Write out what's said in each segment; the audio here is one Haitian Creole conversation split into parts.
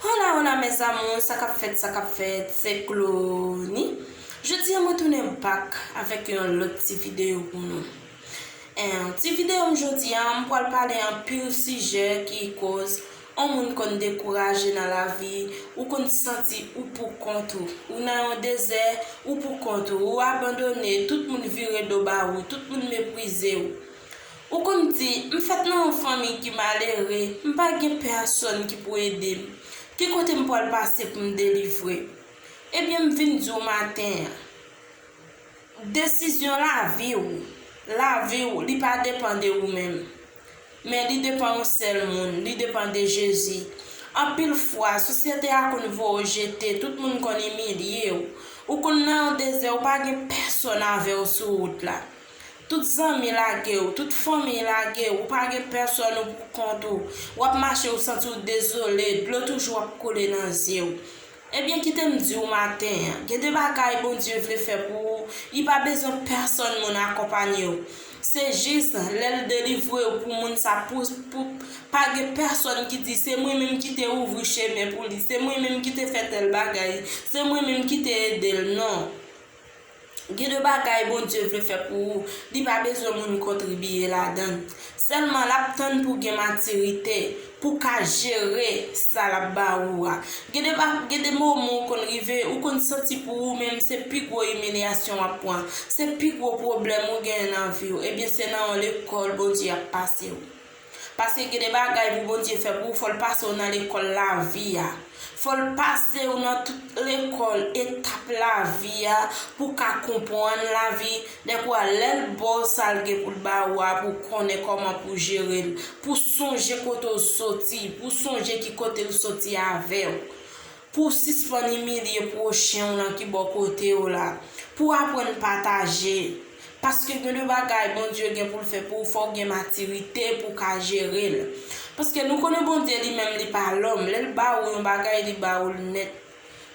Hola hola mes amours sa kap fèt sa kap fèt se Clony jodia mwen tounen back avèk yon lòt ti video pou nou en ti video m jodia m pwal pale anpil sijè ki koz on moun konn dekouraje nan lavi ou konn santi ou pou kont ou ou nan yon dezè ou pou kont ou ou abandone tout moun vire do ba ou tout moun meprize ou Ou konn m di, m fèt nan yon fanmi ki malere, m pa gen pèsòn ki pou ede m. Ki kote m pwal pase pou m delivre? Ebyen m vin di w maten an, desizyon lavi w, lavi w li pa depan de ou menm, men li depan yon sèl moun, li depan de Jezi. Anpil fwa, sosyete a konn voye w jete, tout moun konn imilye w. Ou konn nan yon dezè, ou pa gen pèsòn avè w sou wout la. Tout zanmi lage w, tout fanmiy lage w, ou pa gen pèsòn ou pou kont ou, w ap mache ou santi w dezole, dlo toujou ap koule nan zye w. Ebyen kite m di w maten an, gen de bagay Bondye vle fè pou ou, li pa bezwen pèsòn moun akonpanye w. Se jis lè l delivre w pou moun sa pou pou pa gen pèsòn ki di se mwen menm ki te ouvri chemen pou li, se mwen menm ki te fè tèl bagay, se mwen menm ki te ede l, non. Gen de bagay Bondye vle fè pou ou, li pa bezwen moun kontribiye ladann. Sèlman lap tann pou gen matirite pou ka jere sa lap ba ou a. Gen de ba gen de moman ou konn rive ou konn santi pou ou menm se pi gwo imilyasyon wap pran, se pi gwo pwoblèm ou gen nan viw ebyen se nan yon lekòl Bondye ap pasew. Paske gen de bagay pou Bondye fè pou ou fòl pase ou nan lekòl lavi a. Fòl pase ou nan tout lekòl etap lavi a pou w ka konpwann lavi, dèpou a lèl ba w sal gen pou l ba ou a pou w konnen kòman pou w jere l, pou w sonje kote w soti, pou w sonje ki kote l soti avè w. Pou w sispann imilye pwochen w lan ki bò kote w la. Pou w aprann pataje. Paske gen de bagay Bondye gen pou l fè pou w fò w gen matirite pou w ka jere l. Paske nou konnen Bondye li menm li pa lòm, lè l ba ou yon bagay li ba ou l nèt.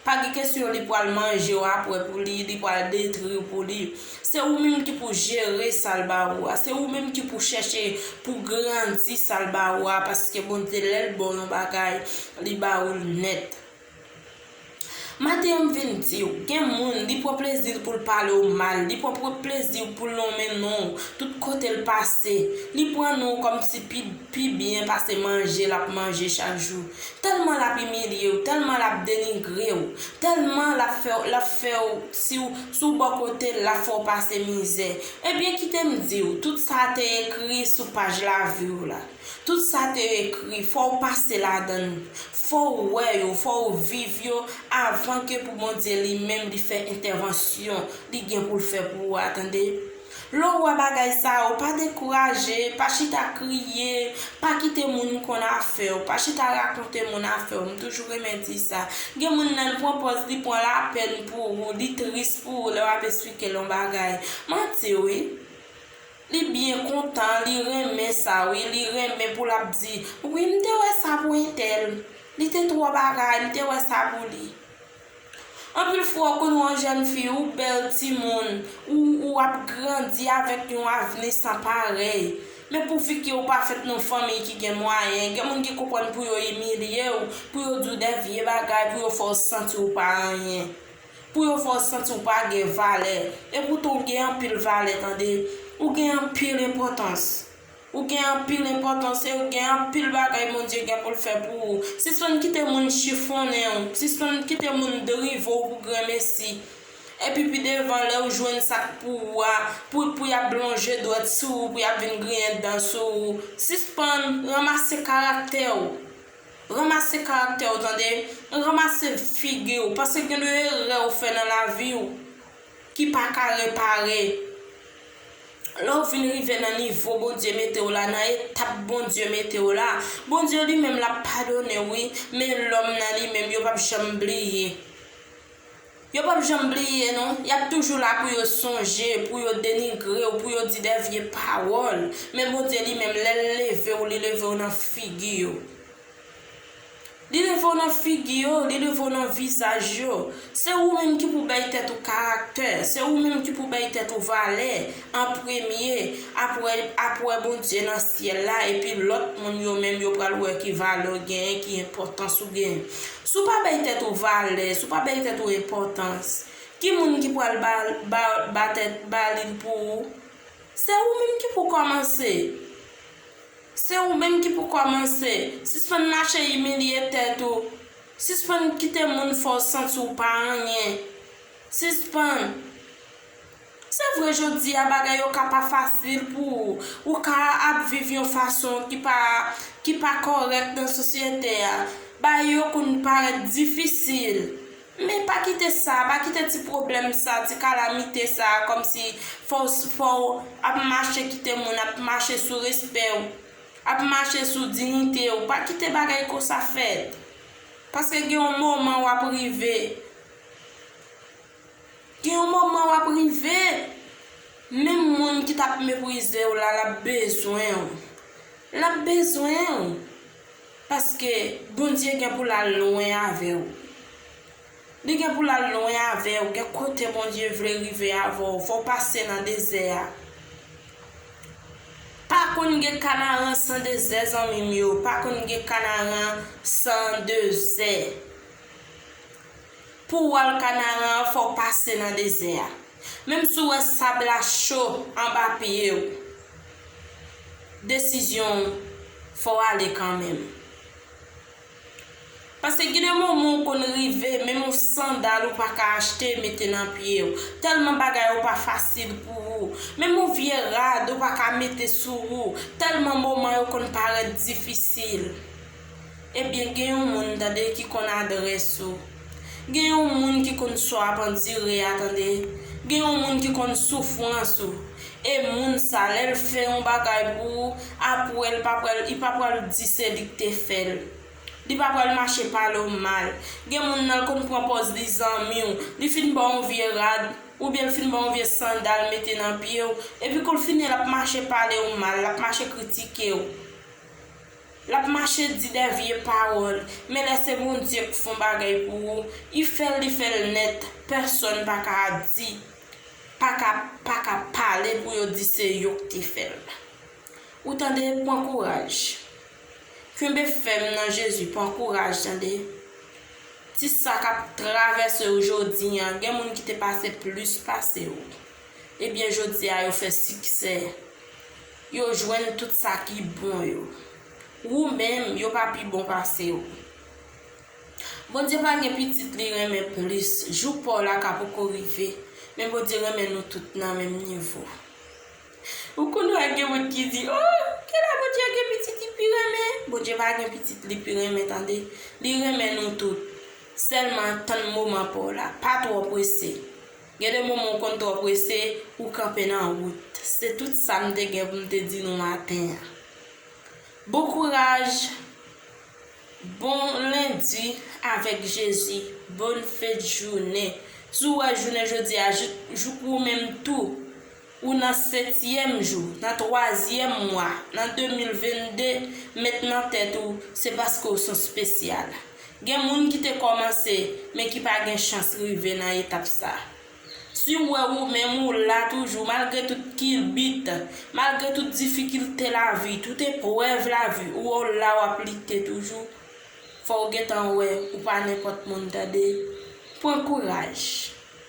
Pa gen kesyon li pral manje w apre pou li, li pral detri w pou li. Se ou menm ki pou jere sa l ba ou a. Se ou menm ki pou chèche pou grandi sa l ba ou a paske Bondye lè l ba w yon bagay, li ba ou l nèt. Maten an m vin di w, gen moun, li pran plezi l pou l pale w mal, li pran plezi l pou l lonmen non w tout kote l pase, li pran non w kòmsi pi pi byen pase manje lap manje chak jou, tèlman lap imilyew, tèlman lap denigrew, tèlman lap fèw lap fèw siw si w bò kotel lap fè w pase mizè, ebyen kitem diw tout sa te ekri sou paj laviw la, tout sa te ekri fòw pase ladann, fòw wè yo, fòw viv yo avan ke pou Bondye li menm li fè entèvansyon li gen poul fè pou ou a tande. Lè w wè bagay sa yo, pa dekouraje, pa chita kriye, pa kite moun konn afè w, pa chita rakonte moun afè w, m toujou renmen di sa. Gen moun lè l pran pòz li pran lapèn pou ou, li tris pou ou lè w ap esplike l yon bagay. Manti wi. Li byen kontan, li renmen sa wi, li renmen pou l ap di, wi m te wè sa pou entèl, li te twò bagay, m te wè sa pou li. Anpil fwa ou konn wè yon jèn fi ou bèl timoun, ou ou ap grandi avèk yon avni san parèy. Men pouvi ke ou pa fèt nan yon fanmiy ki gen mwayen, gen moun ki konprann pou yo imilye ou, pou yo di ou dè vye bagay, pou yo fè ou santi ou pa anyen. Pou yo fè ou santi ou pa gen valè. Epoutan ou gen anpil valè tande. Ou gen anpil enpòtans. Ou gen anpil enpòtans e ou gen anpil bagay Bondye gen pou l fè pou ou. Sispann kite moun chifonnen ou, sispann kite moun drive w pou granmesi. Epi pi devan lè ou jwenn sa k pou ou a, pou pou y ap lonje dwèt sou ou, pou y ap vin griyen dan sou ou, sispann ranmase karaktè ou. Ranmase karaktè ou tande, ranmase figi ou, paske gen de erè ou fè nan lavi ou. ki pa ka repare lè w vin rive nan nivo Bondye mete w la nan etap Bondye mete w la Bondye li menm lap padone w wi men lòm nan li menm yo pap janm bliye yo pap janm bliye non yap toujou la pou yo sonje pou yo denigre w pou yo di de vye pawòl men Bondye li menm lèl leve w li leve w nan figi yo. Li leve w nan figi yo, li leve w nan vizaj yo. Se ou menm ki pou bay tèt ou karaktè, se ou menm ki pou bay tèt ou valè an premye, apre ap wè Bondye nan syèl la epi lòt moun yo menm yo pral wè ki valè w genyen, ki enpòtans ou genyen. Si w pa bay tèt ou valè, si w pa bay tèt ou enpòtans, ki moun ki pral ba li l pou ou? Se ou menm ki pou kòmanse Se ou menm ki pou kòmanse. Sispann mache imilye tèt ou. Sispann kite moun fè w santi w pa anyen. Sispann. Se vre jodi a bagay yo ka pa fasil pou ou. Ou ka ap viv yon fason ki pa ki pa kòrèk nan sosyete a. Bagay yo konn parèt difisil. Men pa kite sa, pa kite ti pwoblèm sa, ti kalamite sa kòmsi fò w fò w ap mache kite moun ap mache sou respè w, ap mache sou dinite w, pa kite bagay konsa fèt. Paske gen yon moman w ap rive, gen yon moman w ap rive menm moun ki t ap meprize w la l ap bezwen w, l ap bezwen w. Paske Bondye gen pou lal lwen avew. Li gen pou lal lwen avew gen kote Bondye vle rive avèw fòw pase nan dezè a. Pa konn gen kanaran san dezè zanmim yo pa konn gen kanaran san dezè. Pou w wè kanaran an fò w pase nan dezè a. Menm si w wè sab la cho anba pye w, desizyon w fò w ale kanmenm. Pase gen de moman w konn rive menm yon sandal ou pa ka achte mete nan pye w, tèlman bagay yo pa fasil pou ou. Menm yon vye rad ou pa ka mete sou ou, tèlman moman yo konn parèt difisil. Ebyen gen yon moun tande ki konn adrès ou gen yon moun ki konn sa w ap andire a tande gen yon moun ki konn soufrans ou e moun sa lè l fè yon bagay pou ou aprè l pa pral li pa pral di se li k te fè l li pa pral mache pale w mal gen moun nan l konn pran pòz li zanmi w li fin ba w yon vye rad oubyen l fin ba w yon vye sandal mete nan pye w epi kou l fini l ap mache pale w mal l ap mache kritike w. Lap mache di dè vye pawòl men lè se Bondye k fon bagay pou ou i fèl li fèl nèt pèsòn paka di paka paka pale pou yo di se yo k te fèl ou tande pwan kouraj knbe fèm nan Jezi pwan kouraj tande ti sa kap travèse ou jodi an gen moun ki te pase plis pase ou ebyen jodi a yo fè siksè. Yo jwenn tout sa ki bon yo. Wou menm, yo pa pi bon pase w. Bondye pa gen pitit li renmen plis. Jou pa w la ka poko rive, men Bondye renmen nou tout nan menm nivo. Ou konn wè gen moun ki di, O, gen lè Bondye gen pitit li pi renmen. Bondye pa gen pitit li pi renmen tande. Li renmen nou tout. Sèlman tann moman pa w la. Pa twò prese. Gen de moman w konn twò prese pou w kanpe nan wout. Se tout sa m te gen pou m te di nou maten an. Bon kouraj, bon lendi avèk Jezi, bonne fête journée. Si w wè jounen jodi a jouk ou menm tou. ou nan setyèm jou, nan twazyèm mwa, nan 2022, met nan tèt ou se paske w son spesyal. Gen moun ki te kòmanse men ki pa gen chans rive nan etap sa. Si w wè ou menm ou la toujou malgre tout kilbit, malgre tout difikilte lavi, tout eprèv lavi ou wè w la wap lite toujou, fò w gentan wè ou pa nenpòt moun tande. Pran kouraj.